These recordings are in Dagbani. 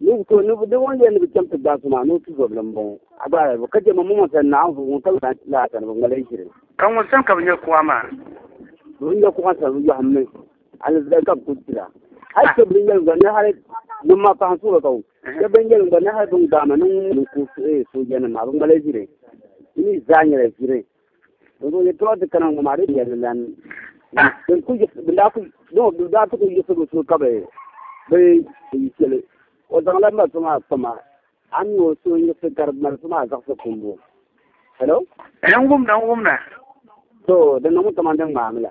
Ni bi to, ni bi ŋun yɛn ni bi chɛm ti gbaai so maa ni o tuzɔbili m-bɔŋɔ. A gbaai bu, ka chɛ ma mɔŋɔ sani na anvuhi ŋun tabi laa sani bi ŋmaligi ʒiri. Ka ŋun sani ka bi nya kuɣa maa? Bi bi nya kuɣa sani, bi yɔhimmi alizali ka bi kul chira. Hal chɛ bɛn yɛlim gba ni hal ŋun maa paɣa n-suhi ba ka o chɛ bɛn yɛlim gba ni hal bɛ ni gbaai ma ni ŋun suhi soojanim maa, bi ŋmaligi ʒiri. Di mi zaa nyɛla ʒiri. N zaŋ yɛtɔɣa ti kana ŋɔ maa di yɛli lan bin ku bin daa ku no bin daa ku yiɣisigu so ka bi bi yi chɛli o zaŋla mali so maa kpama a mi o so yiɣisi ka di mali so maa zaɣisi kumbu hello n wumna n wumna so din niŋ kamani din ŋmaami la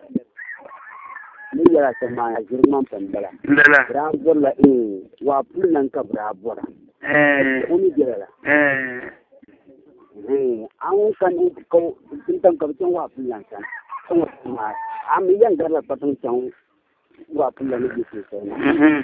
ni yɛla ti maana ʒiri ŋman pam bala lala bi daa bɔrila ee waa puli lan ka bi daa bɔra ɛɛ o ni bɛla la ɛɛ ee an ŋun kan ni ka o- tin tam ka bi chaŋ waa puli lan sani ka ŋɔ ti maa an mi yɛn garila kpatiŋ chaŋ waa puli lan ni bɛ so sani mhm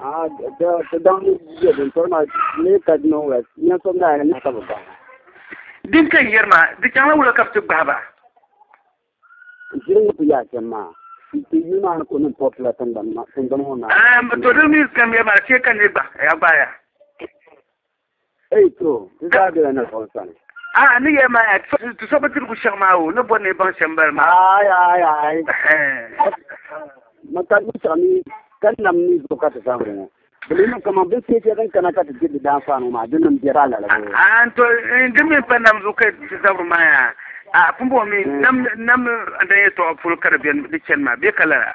Ah, the, the, the down is good. And so now, me cut no west. Me so now, and I come back. din ka n yɛri maa di chaŋla wula ka bi ti gbahi ba Jiri ni ku yaa chɛm maa. Ti yi maa ni ku niŋ pɔpi la tingbani ma- tingbani ŋɔ maa. Ehm, to di mi ka n yɛri maa chɛ ka n yɛ gba ya gbaaya Ei to, ti zaa bela Naawuni sani. A ni yɛli ma yaa, ti so bi dirigu shɛŋa maa o ni bɔri ni yi baŋ shɛm bali maa? Aai, aai, aai. Ma ka di binshiɣu mi ka nam ni zuɣu ka ti zaŋ li ŋɔ. Di mi niŋ kaman binshiɛ shɛli din kana ka ti diri di daanfaani ŋɔ maa, dinni m-biɛri a lala zuɣu. A ni to, di mi pa nam zuɣu ka ti zabiri maa yaa. A pumbɔŋɔ mi, nam n-dan yɛtɔɣa polo ka di beni di chani maa bee ka lala?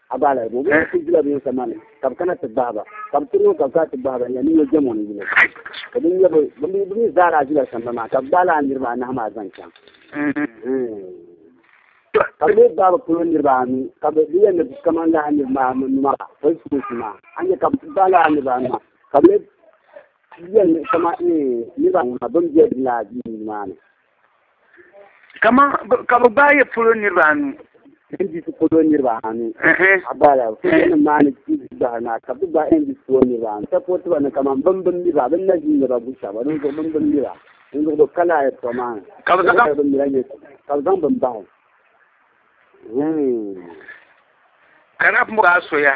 A gbaai la bɛ bɛ ti jila bɛ sama ni ka bɛ kana ti gbahi ba ka bɛ tiri o ka bɛ kana ti gbahi ba nya ni nyɛ jɛmo ni yili ka bɛ nya bɛ bɛ mi zaa daa zila samba maa ka bɛ gbaai la a niriba anahi maa zaŋ chaŋ ka bɛ mi gbaai bɛ polo niriba anu ka bɛ bɛ yɛn ni kaman la a niriba anu maa bɛ sukuusi maa a nya ka bɛ gbaai la a niriba anu maa ka bɛ mi yɛn ni kaman niriba anu maa bɛ mi bɛ la a duu maa ni kama ka bi gbaai ya polo niriba anu NDC polo niriba anu a gbaai la polo maa ni gbahi na ka bi gbaai NDC polo niriba anu sapoti ba ni kama bin bin niriba bin na ʒi niriba bu shaba bin zuɣu bin bin niriba bin zuɣu bi ka la ya tɔ maa ni ka bi zaŋ bin nira nyɛ ka bi zaŋ bin bahi hmm. ka na bi mɔgaa soya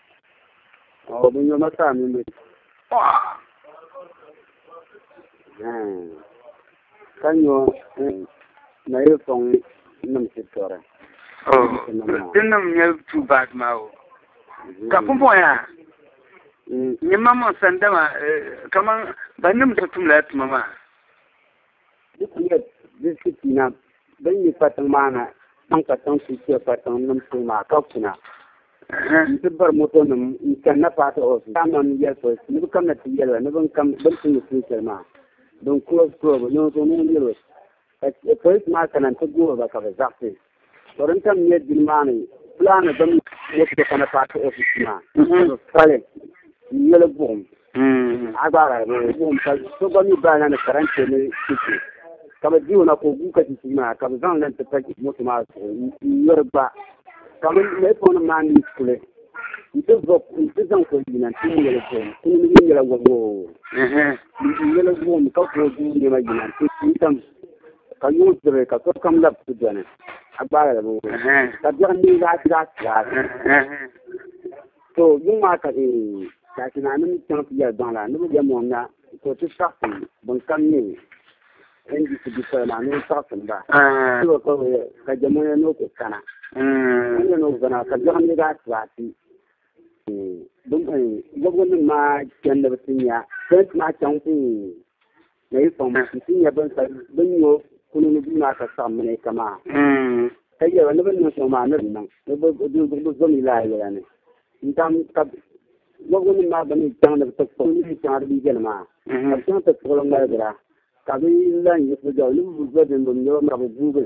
Ɔ bin yoma saa mini bi paɣa. Ka nyo na yi fɔŋ nim si tɔri. Din nim nyɛ tu baat maa o. Ka pumpɔŋ yaa. Nyɛ mam mɔn sandama kaman ba nim so tumla tuma maa. Di kuyila zilisi pina bɛn yi kpatiŋ maa na chaŋ kpatiŋ ti chɛ kpatiŋ nim polo maa ka kuna nti bari moto nim n chani na part of the time nim yɛli police ni bɛ kam na ti yɛli ba ni bɛn kam bɛn tumdi tuun shɛli maa bɛn cross cross bɛ noo zuɣu mini wheel road ka police maa kana nti goori ba ka bɛ zaɣisi Ka din tam nyɛ dini maa ni plaani bim moto ti kana paati ofis maa ka pali n yoli buɣum a gbaara ni buɣum ka so gba mi baana ni karante ni chichi ka bi di o na ka o gu ka chichi maa ka bi zaŋ lan ti pa moto maa zuɣu n yori gba ka bi mali fon maa ni kuli n ti vɔ n ti zaŋ kuli yina n ti n yoli buɣum kuni ni mi nyɛla wɔboo n yoli buɣum ka ka o du nɛma yina n ti n tam Ka yuŋ tibi ka sokam lab ti beni, a gbaala di bi wum, ka biɛɣu mini laa ti daa tilaati. To yuŋ maa ka e daati naanima chaŋ ti yɛli gbaŋ la ni bɛ yɛm o na, to ti saɣisim binkam nyɛ NDC bipola maa ni o saɣisim ba, ti bi kpab o ka jɛm o ya ni o ku kana. Ka nya ni o gana ka biɛɣu mini laa tilaati. Bɔbigu nim maa chani ni bɛ ti nya pɛnti maa chaŋ. Na yi kpaŋ ma nti nya bɛn ka bɛn nyo kuni ni bia maa ka saɣim malaika maa, ka yɛli ba, Ni bɛ niŋ shɛm maa, ni bɛ niŋ, di bi zo mi lala yɛla ni. N-tam ka wɔbigunim maa gba ni chaŋ ni bɛ ti kpuɣi niriba shɛŋa di bi yɛli maa, ka bɛ chaŋ ti kpuɣi li ŋmaligira, ka bɛ lan yi bɛ zuɣu ni bɛ bi zo din bɛ mi ni bɛ maa bɛ guugi